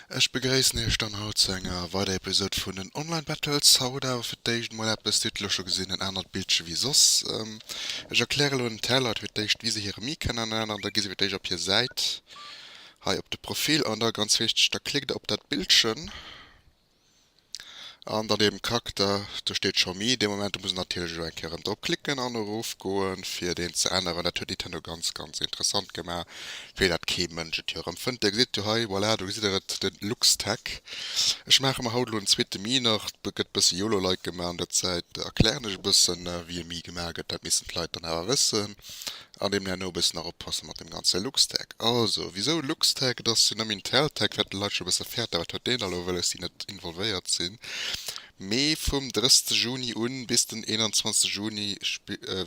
Ech begréissen iech dann haut zu enger weider Episode vun den Online Battles. Haut awer fir d'éischt emol eppes, Dir hutt et elo scho gesinn, en anert Bildche wéi soss. Ech erkläre elo den Tell Leit fir d'éischt wéi se hire Mic an an da gi se fir d'éischt op hir Säit hei op de Profil an da ganz wichteg, da klickt der op dat Bildchen. An dann eben Kakter, do steet scho Mii, dee Moment, do muss een natierlech elo eng Kéier erëm drop klicken an erof goen fir deen ze änneren. Dat huet Nintendo ganz ganz interessant gemaach, wéi dat kee Mënsch et jo erëm fënnt. Dir gesitt jo hei, voilà, do gesitt der et, de Luxtag. Ech maache mer haut elo en zweete Mii nach, et gëtt e bësse Yolo-like gemaach an der Zäit erklären ech e bëssen wéi e Mii gemaach gëtt, dat missten d'Leit dann awer wëssen. An deem herno e bëssen nach oppasse mat deem ganze Luxtag. Also, wisou Luxtag? Et ass jo nëmme Inteltag, wat d'Leit scho e bësse fäerten, wat huet deen da elo wëlles, déi net involvéiert sinn. Mee vum 30 Juni u bis den 21 Juni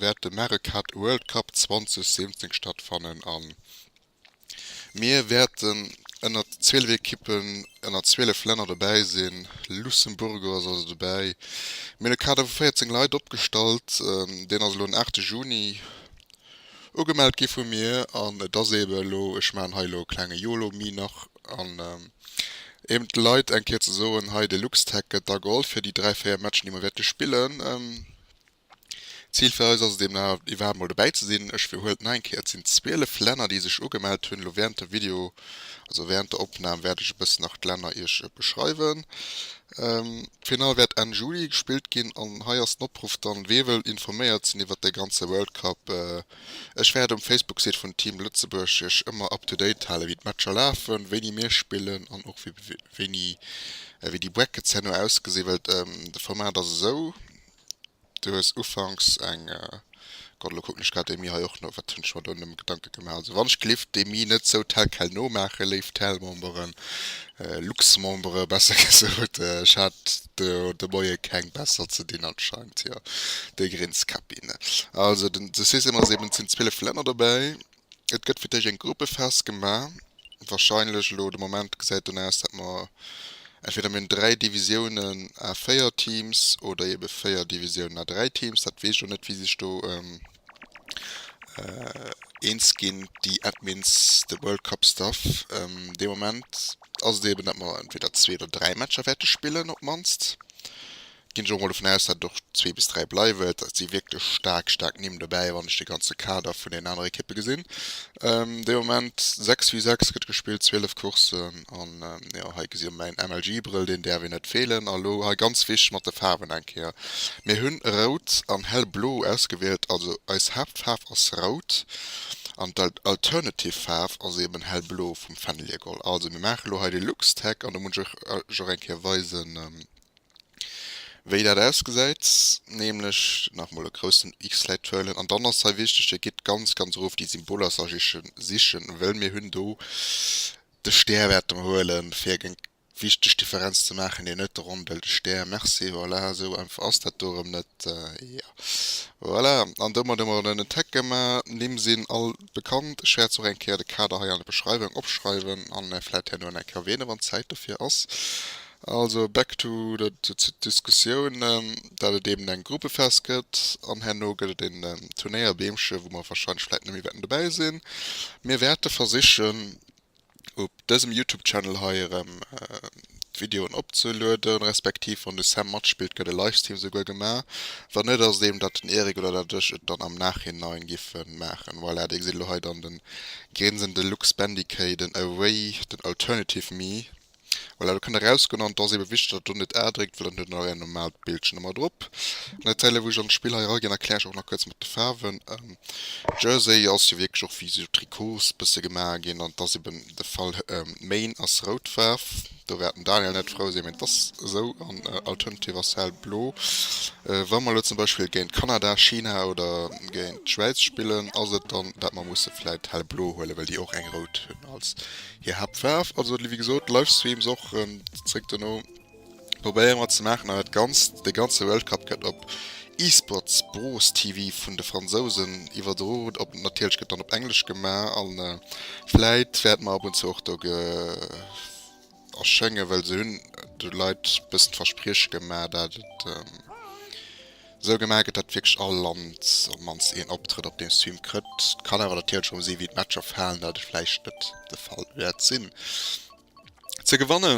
wäert de Mario Kart World Cup 2017 stattfannen an. Mir wäerten ënner 12 Ekippen ënner 12 Länner dobäi sinn. Luxemburgo ass also dobäi. Mir hunn e Kader vu 14 Leit opgestallt. Deen ass elo den 8 Juni ugemellt gi vu mir an et ass eebe elo, ech maachen hei elo e klenge Yolo-Me nach an eeben de Leit eng Kéier ze soen, hei de Luxtag gëtt da geholl fir déi dräi, véier Matchen, déi mer wäerte spillen. D'Zil fir eis ass et deemno iwwerhaapt mol dobäi ze sinn. Ech wiederhuelen nach eng Kéier, et sinn 12 Länner déi sech ugemellt hunn. Elo während der Video, also während der Opnahm, wäert ech e bëssen nach d'Länner iech beschreiwen. D'Finall wäert Enn Juli gespillt ginn an hei ass den Opruff dann, wee wëll informéiert sinn iwwert de ganze World Cup. Ech wäert um Facebook-Site vun Team Lëtzebuerg iech ëmmer up to date halen wéi d'Matcher lafen, wéini mir spillen an och wéini, wéi déi Brackets herno ausgesinn, well de Format ass esou, Du hues ufanks eng, Gott, elo kucken ech grad d'Emmi hei och no, wat hunn ech mer do nëmme Gedanke gemaach? Also wann ech gelift d'Emmi net sou tel quel nomaachen, léif Telmemberen, Luxmembere besser gesot, ech hat do de Moie keng besser ze dinn anscheinend, jo, de Grinskapinn. Also den, du sees ëmmer, et sinn 12 Länner dobäi. Et gëtt fir d'éischt eng Gruppe festgemaach. Wahrscheinlech elo de Moment gesäit dunn aus, dat mer entweder mir hunn dräi Divisiounen à véier Teams oder eebe véier Divisiounen à dräi Teams. Dat weess ech elo net, wéi sech do eens ginn déi Admins, de World Cup Staff. De Moment ass et eeben, dat mer entweder zwee oder dräi Matcher wäerte spillen op d'mannst. Ginn ech och mol dovun aus, dat et och zwee bis dräi bleiwen. Et si wierklech staark, staark Nimm dobäi, wann ech de ganze Kader vun den aner Ekippe gesinn. De Moment 6 vue 6 gëtt gespillt, 12 Courssen. An jo, hei gesi jo mäin MLG-Brëll, deen däerf een net feelen. A lo hei ganz wichteg mat de Faarwen eng Kéier, Mir hunn rout an hellblo ausgewielt, also eis Haaptfaarf ass rout an d'alternative Faarf ass eeben hellblo vum Fennelie Gold. Also mir maache lo hei de Luxtech an do muss ech och eng Kéier weisen, wéi dat ausgesäit, nämlech nach mol e groussen X-Läit huelen an dann ass hei wichteg, Dir gitt ganz ganz erof déi Symboler sichen, wëll mir hunn do de Stär wäerte mer huelen fir eng wichteg Differenz ze maachen, deen net ronde Stär, merci, voilà esou einfach ass dat do erëm net, jo voilà an domat hu mer en en Tag gemaach. D'Nimm sinn all bekannt, ech wäert se och eng Kéier de Kader hei an der Beschreiwung opschreiwen an vläit herno nach eng Kéier erwähnen, wann Zäit dofir ass. Also back to der Diskussioun, dat et eben eng Gruppefest gëtt an herno gëtt et een Turnéierbeemche wou mer wahrscheinlech vläit net méi wäerten dobäi sinn. Mir wäerte versichen op dësem Youtube Channel hei erëm d'Videoen opzelueden, respektiv wann de Sam matspillt gëtt e Livestream souguer gemaach. Wann net ass et eben dat den Eric oder dat ech et dann am Nachhinein giffe maachen. Voilà, dir gesitt elo hei dann de grinsende Luxbandicaden, away den alternative me. Voilà, do kann der erausgoen an et ass eebe wichteg, datt der do net A dréckt, well dann huet der nach är normaalt Bildchen ëmmer drop. An der Zäit wou ech an d'Spill hei eraginn, erkläre ech och nach kuerz mat de Faarwen. Jersey ass jo wierklech och wéi esou Trikots bësse gemaach ginn an et ass eeben de Fall, Maine ass rout Faarf, do wäert den Daniel net frou sinn, mee et ass esou, an Alternative ass hellblo. Wa mer elo zum Beispill géint Kanada, China oder géint d'Schwäiz spillen, ass et dann, dat mer musse vläit hellblo huelen, well déi och eng rout hunn als Hir Haaptfaarf, also wéi gesot Livestreams och zréck dono, probéiere mer ze maachen an dat Ganzt, de ganze World Cup gëtt op eSports Bros TV vun de Fransousen iwwerdro, natierlech gëtt dann op Englesch gemaach a vläit wäerte mer ab und zu och do erschéngen, well se hunn de Leit e bëssen d'Versprieche gemaach dat et. Sou gemaach gëtt, datt wierklech all Land op d'mannst een Optrëtt op deem Stream krëtt. Et kann awer natierlech erëm si wéi d'Matcher falen, dat et vläicht net de Fall wäert sinn. Ze gewanne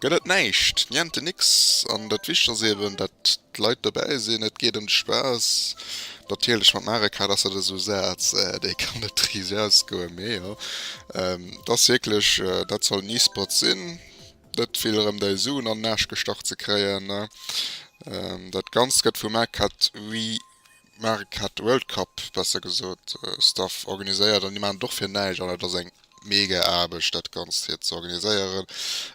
gëtt et näischt, niente nix, an dat Wichtegst ass eben, datt d'Leit dobäi sinn. Et geet ëm de Spaass. Natierlech mat Mario Kart ass dat esou e Saz, dee kann net riicht ausgoen, mee jo, et ass wierklech, dat soll en E-Sport sinn. net vill erëm dei Suen an den Aasch gestach ze kréien. Dat ganzt gëtt vum MareCat We MareCat World Cup besser gesot Staff organiséiert an déi maachen et och fir näischt an et ass eng mega Aarbecht dat ganzt fir ze organiséieren.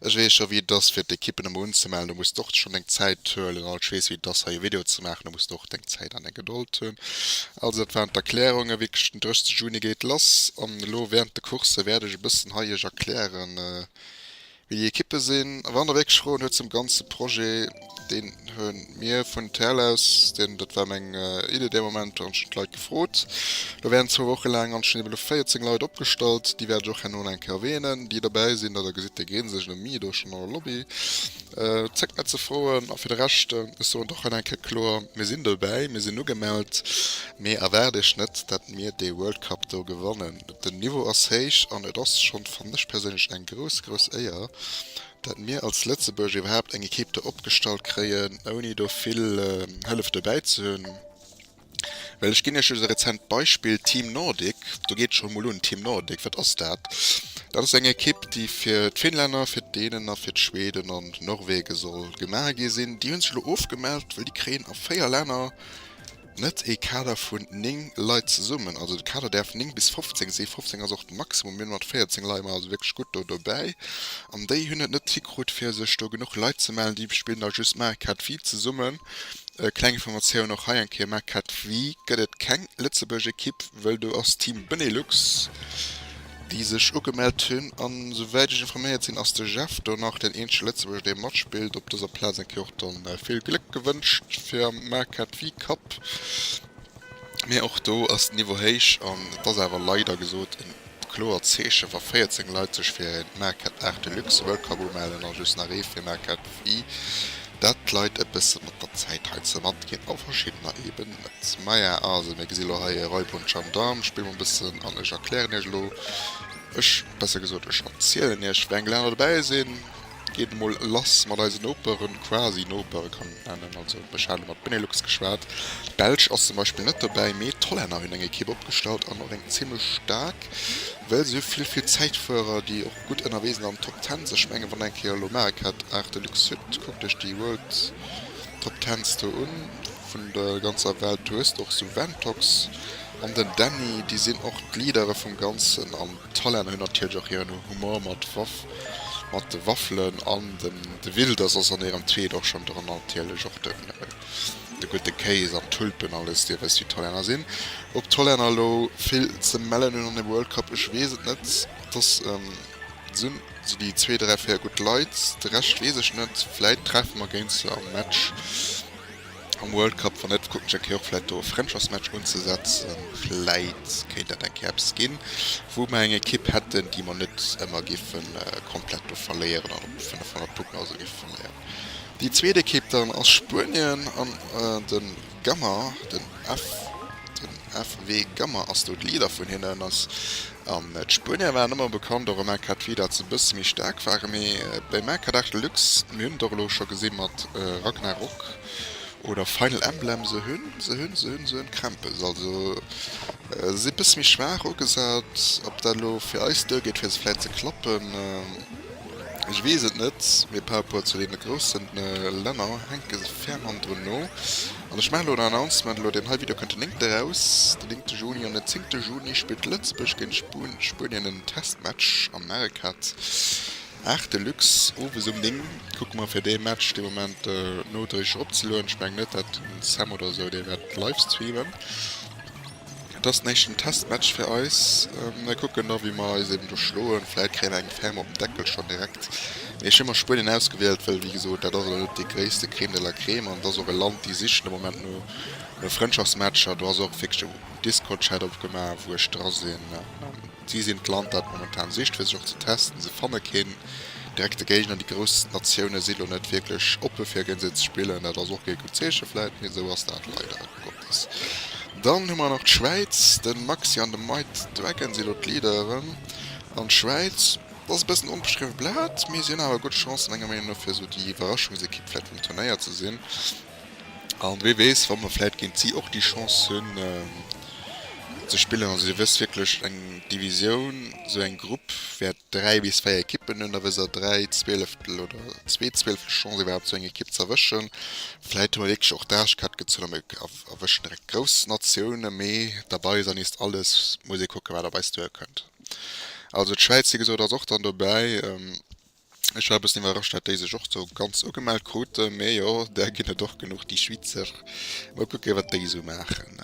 Ech weess scho wéi et ass fir d'Ekippen emol unzemellen, do muss de och schonn deng Zäit huelen an ech weess wéi et ass hei e Video ze maachen, do muss de och deng Zäit an deng Gedold hunn. Also dat waren d'Erklärungen, wierklech den 30 Juni geet lass an elo während de Coursse wäert ech e bëssen hei iech erklären, Mir déi Equipe sinn wann ewéi geschroen huet zum ganze Projet deen hu mir vun TL aus deen dat war meng Idee dee Moment an ech hunn d'Leit gefrot lo während zwou Woche laang an ech hunn ebe lo 14 Leit opgestallt déi wäert ech och herno nach eng Kéier erwähnen déi dobäi sinn. Datt der gesitt déi grinsen ech ënnermi do schonn an der Lobby zéckt net ze froen a fir de Rescht ech soen et och hei nach eng Kéier kloer mir sinn dobäi mir sinn ugemellt mee erwaart iech net dat mir dee World Cup do gewannen. Den Niveau ass héich an et ass schonn, fannen ech perséinlech, eng grouss, grouss Éier, dat mir als Lëtzebuerg iwwerhaapt eng Equipe do opgestallt kréien, ouni do vill Hëllef dobäi ze hunn. Well ech ginn Iech just e rezent Beispill, Team Nordic, do geet et schonn emol un. Team Nordic, wat ass dat? Dat ass eng Equipe, déi fir d'Finnlänner, fir d'Dänen a fir d'Schweden an d'Norwege soll gemaach gi sinn. Déi hunn sech elo ofgemellt, well déi kréien a véier Länner, Net ee Kader vun 9 Leit zesummen, also de Kader däerf 9 bis 15 sinn, 15 ass och den Maximum, mir hunn mat 14 Leit, mer also wierklech gutt do dobäi an déi hunn et net hikrut fir sech do genuch Leit ze mellen, déi spillen da just Maarek Kadvi zesummen. Kleng Informatioun och hei eng Kéier, Maarek Kadvi gëtt et keng Lëtzebuerg Ekipp, wëll do ass Team Benelux. déi sech ugemellt hunn, an esouwäit ech informéiert sinn ass de Jeff do nach deen eenzege Lëtzebuerger dee matspillt op dëser Plaz. Eng Kéier och do vill Gléck gewënscht fir am Marquette Wii Cup, mee och do ass den Niveau héich an et ass awer leider gesot e kloert Zeeche wa 14 Leit sech fir e Marquette Art Deluxe World Cup umellen a just nach ee fir Marquette Wii, dat d'Leit e bësse mat der Zäit hei ze matginn a verschiddener eebe Maja, Also, mir gesi lo hei e Räubhund Gendarm. Spille mer e bëssen an ech erklären iech elo, ech, besser gesot, ech erzielen iech, wéi eng Länner dobäi sinn. Geet emol lass mat eisen Noperen, quasi Noperen, kann een et nennen. Also, ech hate mat Benelux geschwat. D'Belsch ass zum Beispill net dobäi, mee d'Hollänner hunn eng Ekipp opgestallt an och eng zimmlech staark, well se hu vill, vill Zäitfuerer, déi och gutt ënnerwee sinn an Top Tens. Ech mengen, wann der eng Kéier elo Marekart, Arte Luxe Sud, kuckt iech déi World Top Tens do un. vun der ganzer Welt. Du hues och sou Ventox an den Danny, déi sinn och d'Leadere vum Ganzen an d'Talana hunn natierlech och hiren Humor mat Waff, mat de Waffelen an den de Wilders ass an hirem Tweet och schonn dran an natierlech och de de gudde Kéis an d'Tulpen alles. Dir wësst wéi d'Talana sinn. Ob d'Talana elo vill ze mellen hunn an dem World Cup, ech weess et net. Dass sinn sou déi zwee, dräi, véier gutt Leit, de Rescht weess ech net. Vläit treffe mer géint se am Match. Am World Cup, wann net, kucken ech eng Kéier och vläit do e Frëndschaftsmatch unzesetzen. Vläit kéint dat eng Kéier eppes ginn, wou mer eng Ekipp hätten, déi mer net ëmmer géife komplett do verléieren an op 500 Punkten oder esou géife verléieren. Déi zweet Ekipp dann ass Spuenien an de Gammer, den FW Gammer ass do de Leader vun hinnen, ass An d'Spuenier waren ëmmer bekannt, och am AK d'Fee, dat se e bësse méi staark waren. Mee beim AK Dark Deluxe, mir hunn et och elo scho gesi mat Ragnarok oder Final Emblem, se hunn, se hunn, se hunn, se hunn Krämpes. Also se si e bësse méi schwaach ugesat. Ob dat elo fir eis duer geet fir se vläit ze klappen, ech weess et net. Mee par rapport zu deene groussen Länner hänke se ferm hannendrun no. An ech maachen elo en Announcement, elo deen hei Video kënnt den néngte raus, den néngte Juni. An den zéngte Juni spillt Lëtzebuerg géint Spuenien en Testmatch am Mercat, Art Deluxe, owes um néng. Kucke mer fir dee Match dee Moment nodréiglech opzelueden. Ech mengen net, dat den Sam oder esou dee wäert live streamen. Et ass den éischten Testmatch fir eis. Mir kucken da wéi mer eis eben do schloen. Vläit kréie mer eng Ferme op den Deckel schonn direkt. Mee ech hu mer Spuenien ausgewielt, wëll wéi gesot, dat ass elo net déi gréisste Crème de la Crème an et ass och e Land, déi sichen de Moment no no Frëndschaftsmatcher. Do ass och wierklech de Discord-Chat opgemaach, wou ech dra sinn. Si sinn d'Land, dat momentan sicht fir sech och ze testen. Se fanne keen direkte Géigner. Déi grouss Natioune si lo net wierklech oppe fir géint se ze spillen. Dat ass och kee gutt Zeeche vläit, mee esou ass dat leider. Dann hu mer nach d'Schwäiz. De Maxi an de Mike Dragon si elo d'Leaderen. An d'Schwäiz, dat ass e bëssen onbeschriwwe Blat, mee si hunn awer gutt Chancen, menger Meenung no, fir esou déi Iwwerraschungsekipp vläicht vum Turnéier ze sinn. A wee weess, wa mer vläicht géint si och déi Chance hunn, ze spillen. Also, Dir wësst wierklech, eng Divisioun, esou eng Grupp wäert 3 bis 4 Ekippen hunn da wëser 3 Zwieleftel oder zwee Zwieleftel Chance iwwerhaapt sou eng Ekipp z'erwëschen. Vläit hu mer wierklech och d'Aarschkräfte gezunn a mir erwëschen direkt grouss Natiounen, mee derbei ass ernee alles, muss ee kucken wat op eis duer kënnt. Also d'Schwäiz wéi gesot ass och dann dobäi. Ech war e bëssen iwwerrascht dat déi sech och sou ganz ugemellt kruten, mee jo där ginn et och genuch déi Schweezer. Mol kucke wat déi sou maachen.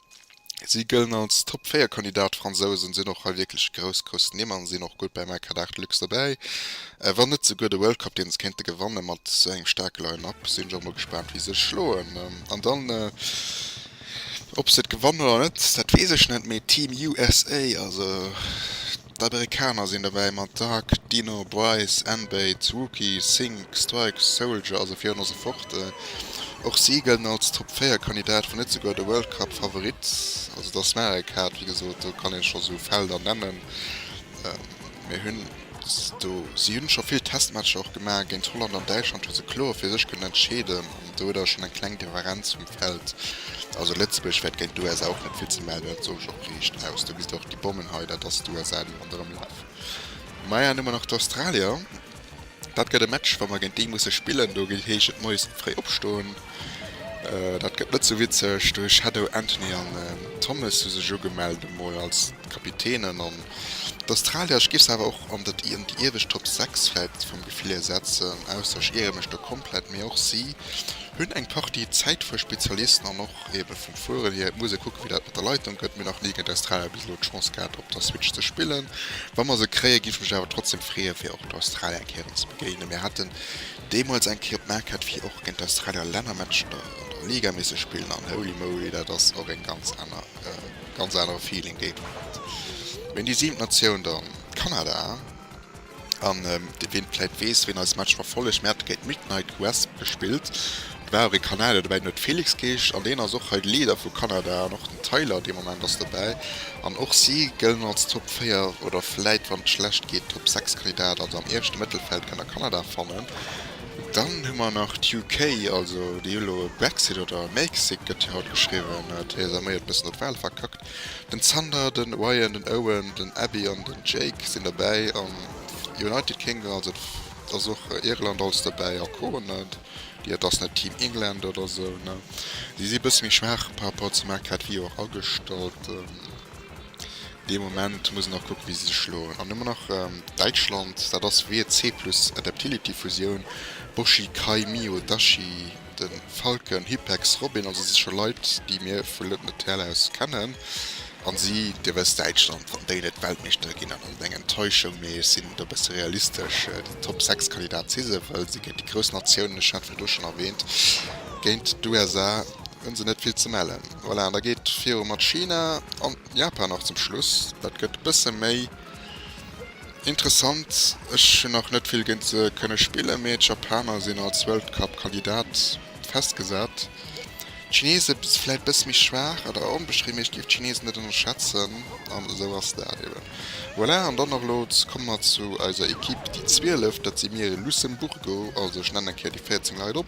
Si gëllen als Top 4 Kandidat. D'Fransousen sinn och hei wierklech grouss, grouss Nimm an sinn och gutt beim AK Dart Lux dobäi, wann net souguer de World Cup, deen se kéinte gewanne mat esou engem staarke Line-Up. Sinn ech och mol gespaant wie se schloen an dann ob se et gewannen oder net, dat weess ech net, mee Team USA also. D'Amerikaner sinn dobäi mat Dark, Dino, Bryce, N-Bates, Rookie, Sink, Strikes, Soldier a sou virun a sou fort. Och si gëllen als Top 4 Kandidat, wann net souguer de World Cup Favorit. Also et ass nach eng Kaart, wéi gesot, do kann ee scho sou Felder nennen, mee hunn do, si hunn scho vill Testmatcher och gemaach, géint Holland an Däitschland hu se kloer fir sech kënnen entscheeden. Do huet awer schonn eng kleng Differenz vum Feld. Also Lëtzebuerg wäert géint d'USA och net vill ze mellen hunn, dat soch ech och riicht aus. Do gesitt Der och déi Bommen hei, dat ass d'USA déi ronderëm lafen. Maja, an du mer nach d'Australier. Dat gëtt e Match, wa mer géint déi musse spillen, do gétt heeschen d'Moiesen fréi opstoen. Dat gëtt net sou witzeg. De Shadow, Anthony an Thomas hu sech ugemellt emol als. Kapitänen an d'Australier. Ech giff se awer och an den an déi iewescht Top 6 vläit vom Gefill hier setzen, ausser ech iere mech do komplett, mee och si hunn eng Partie Zäitfuerspezialisten an och eben vum Fueren hier. Et muss ee kucken, wéi dat mat der Leitung gëtt, mee nach ni géint Australier bis elo d'Chance gehat op der Switch ze spillen. Wa mer se kréien, giff ech mech awer trotzdeem freeën, fir och d'Australier eng Kéier erëm ze begéinen. Mir haten deemools eng Kéier op d'Maquette, fir och géint d'Australier Lännermatch an der an der Liga misse spillen an holy moly, dat ass och eng ganz aner. ganz anere Feeling deen do huet. Mee déi siwent Natioun dann Kanada an ween vläit weess ween eis Match verfollegt mir hate géint Midnight Quest gespillt do war och ee Kanadier dobäi den huet Felix geescht an deen ass och hei de Leader vu Kanada an och den Tyler dee Moment ass dobäi an och si gëllen als Top 4 oder vläit wann et schlecht geet Top 6 Kandidat. Also am ieweschte Mëttelfeld kënnt der Kanada fannen Dann hu mer nach d'UK, also déi hu elo e Brexit, oder Mexit gëtt hie haut geschriwwen, Theresa May huet bëssen op d'Wale verkackt, den Zander, den Ryan, den Owen, den Abbie an den Jake sinn derbäi, an United Kingdom, also et ass och Irland als derbäi, a Co. Déi et ass net Team England oder esou, si si bësse méi schwaach par rapport zum Marc Grad, wéi jo och agestallt. Dee Moment muss en nach kucken, wéi si sech schloen. An ëmmer nach Däitschland, dat ass WEC plus Adaptility Fusioun, Boshi, Kai, Mio, Dashi, de Falken, Hypex, Robin, also si scho Leit, déi mir vu Lëtneterl aus kennen. A si dierf aus Däitschland, wann déi net Weltmeeschtere ginn, dann ass et eng Enttäuschung, mee ech sinn do e bësse realistesch, den Top 6 Kandidat si se, well si géint déi grouss Natiounen, ech hat virdru schonn erwähnt, géint d'USA, Hunn se net vill ze mellen. Voilà, an da geet viru mat China an Japan nach zum Schluss. Dat gëtt e bësse méi interessant. Ech hunn nach net vill géint se kënne spillen, mee d'Japaner sinn als World Cup Kandidat festgesat. D'Chinese si vläit e bësse méi schwaach, awer onbeschriwwen, mee ech géif d'Chinesen net ënnerschätzen. An esou ass dat eben. Voilà, an dann nach elo komme mer zu eiser Ekipp, déi 12. Dat si mir, Lucemburgo. Also ech nennen eng Kéier déi 14 Leit op.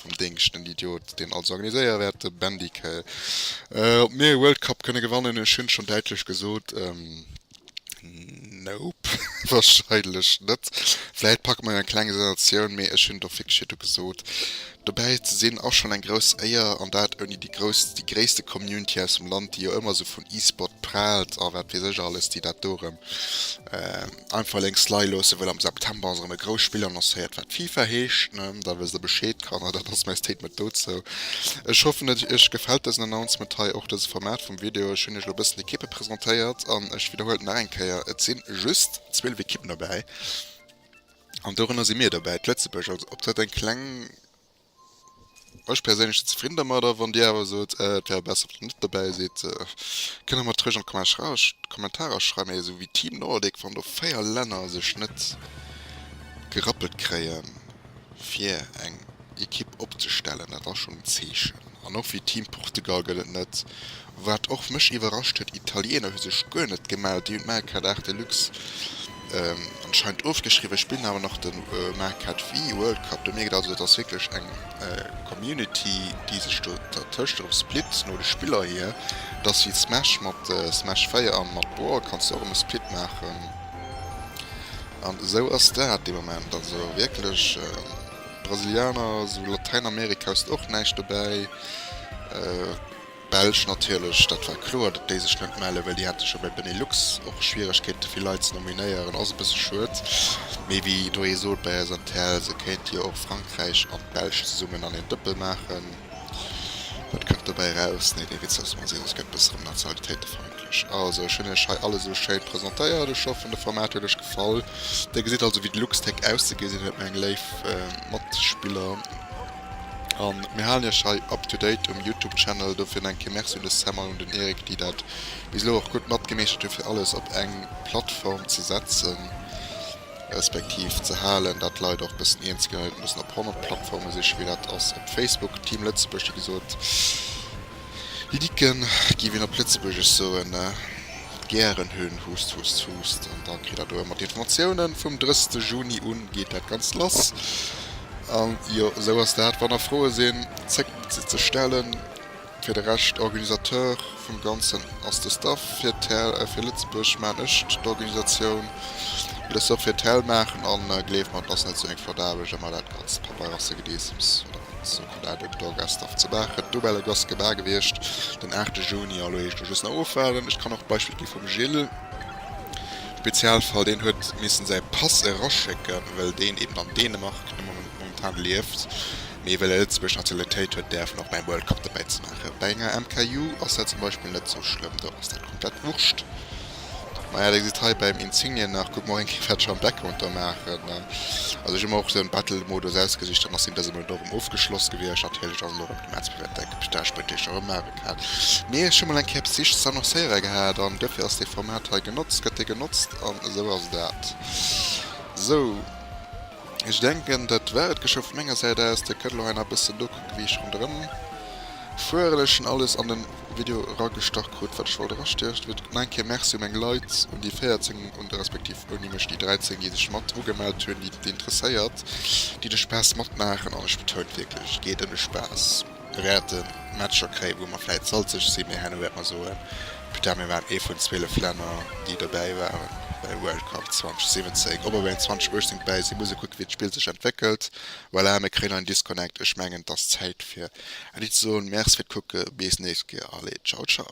um Déngscht, en Idiot, deen alles organiséiere wäert, de Bendice. Ob mir e World Cup kënne gewannen, ech hunn schonn däitlech gesot, Nope, wahrscheinlech net. Vläicht packe mer jo eng kleng Sensatioun, mee ech hunn do fix virdu gesot, dobäi ze sinn ass schonn eng grouss Éier, an dat ouni déi grouss, déi gréisste Community aus dem Land, déi jo ëmmer esou vun E-Sport praalt a wat weess ech alles, déi dat do erëm. Einfach lénks lei loossen, well am September ass erëm e grousst Spill annoncéiert wat Fifa heescht, da wësst der Bescheed. Kanner, dat ass mäi Statement dozou. Ech hoffen et iech gefält dësen Announcement hei, och dëse Format vum Video. Ech hunn iech elo e bëssen d'Ekippe presentéiert an ech widderhuelen et nach eng Kéier, et sinn just 12 Ekippen dobäi an dorënner si mir dobäi, d'Lëtzebuerg. Also ob dat eng kleng. Ech perséinlech sin zefridden dermadder. Wann dir awer sot et wär besser wann der net dobäi sidd, kënnt der mer dat roueg an d'Kommentarer schreiwen. Mee esou wéi Team Nordic wann do 4 Länner sech net gerappelt kréien fir eng Equipe opzestellen, dat ass schon en Zeechen. An och fir Team Portugal gëtt et net. Wat och mech iwwerrascht huet, Italiener hu sech guer net gemellt. Déi hunn d'Maricard-Art Deluxe anscheinend ofgeschriwwen, spillen awer nach de Maricard Wii World Cup. Do mierkt een also, dat ass wierklech eng Community, déi sech do dertëscht erëm splitt. No de Spiller hier, et ass wéi Smash mat Smash 4 a mat Brawl, kanns de och erëm e Split maachen. An esou ass dat de Moment. Also wierklech Brasilianer, esou Latäinamerika hues de och näischt dobäi. D'Belsch natierlech, dat war kloer, datt déi sech net melle, well déi hate scho bei Benelux och Schwieregkeete fir Leit ze nominéieren. Ass e bësse schued, mee wéi ee doheem sot bei eis an TL, se kéinte jo och Frankräich an d'Belsch zesummen an een Dëppel maachen. Wat kënnt dobäi eraus? Nee, dee Witz ass mol seriö, gëtt bësse rëm nationalitéitefeindlech. Also ech hunn iech hei alles esou schéin presentéiert, ech hoffen de Format huet iech gefall. Dir gesitt also wéi de Luxtech auszegesinn huet, meng léif Matspiller. An mir halen iech hei up to date um Youtube Channel. Dofir nach eng Kéier Merci un de Sam an un den Eric déi dat bis elo och gutt matgemeeschtert hunn fir alles op eng Plattform ze setzen respektiv ze halen. Dat d'Leit och bëssen eens ginn an net mussen op 100 Plattforme siche wéi dat ass op Facebook. Team Lëtzebuerg wéi gesot. Liken giff een op Lëtzebuergesch soen, gären hunn. Hust, hust, hust. An da kritt der do ëmmer d'Informatiounen, vum 30 Juni un geet dat Ganzt lass. An jo, esou ass dat, wann der Froe sinn, zéckt net se ze stellen. Fir de Rescht, Organisateur vum Ganzen ass de Staff. Fir tel, fir Lëtzebuerg man ech d'Organisatioun. Le Sof fir tel maachen. An gleeft mer, et ass net esou eng flott Aarbecht, ëmmer dat ganzt Papeierasse-Gedeessems oder wat. Daat huet d'Dor Gesdorff ze Baachen dobäi le Gosse gebar gewiecht den 8 Juni. An lo heescht lo just nach ofwaarden. Ech kann och d'Beispill gi vum Gilles, Spezialfall, deen huet missen säi Pass eraschécken well deen eben an Dänemark momentan lieft, mee well e Lëtzebuerger Nationalitéit huet däerf en och beim World Cup dobäi ze maachen. Bei enger MKJu ass dat zum Beispill net sou schlëmm, do ass dat komplett wurscht. Maja deng sidd hei beim Insigne nach guck mol enke wat Jean Beck konter maachen ne also ech hu mer och esou en Battle Modus ausgesicht dann ass deen dëse Monat och erëm ofgeschloss gewiescht natierlech ass elo erëm de März fir wat däck Pista Spëtteecher erëm maache kann mee ech hu mol eng Kéier eppes Wichtiges annoncéiere gehat an duerfir ass dee Format hei genotzt gëtt dee genotzt an esou ass dat sou. Ech denken dat war et geschou vun menger Säit aus. Dir kënnt elo hei nach e bëssen nokucken wéi ech ronderëm fueren. Ech hunn alles an den Video eragestach krut wat ech wollt erastiecht. Wéi gesot, nach eng Kéier Merci u meng Leit, un déi 14 un respektiv ouni mech déi 13 déi sech mat ugemellt hunn, déi et interesséiert, déi de Spaass matmaachen. An ech betounen wierklech et geet ëm de Spaass. wäerte Matcher kréien, wou mer vläit salzeg sinn, mee herno wäerte mer soen, putain, mir waren ee vun 12 Länner, déi dobäi waren bei de World Cup 2017. Ob mer bei 2018 dobäi sinn, muss ee kucken, wéi d'Spill sech entwéckelt. Voilà, mir kréien en Disconnect. Ech mengen, et ass Zäit, fir Äddi ze soen. Merci fir d'Kucke. Bis d'nächst Kéier. Allez, ciao, ciao.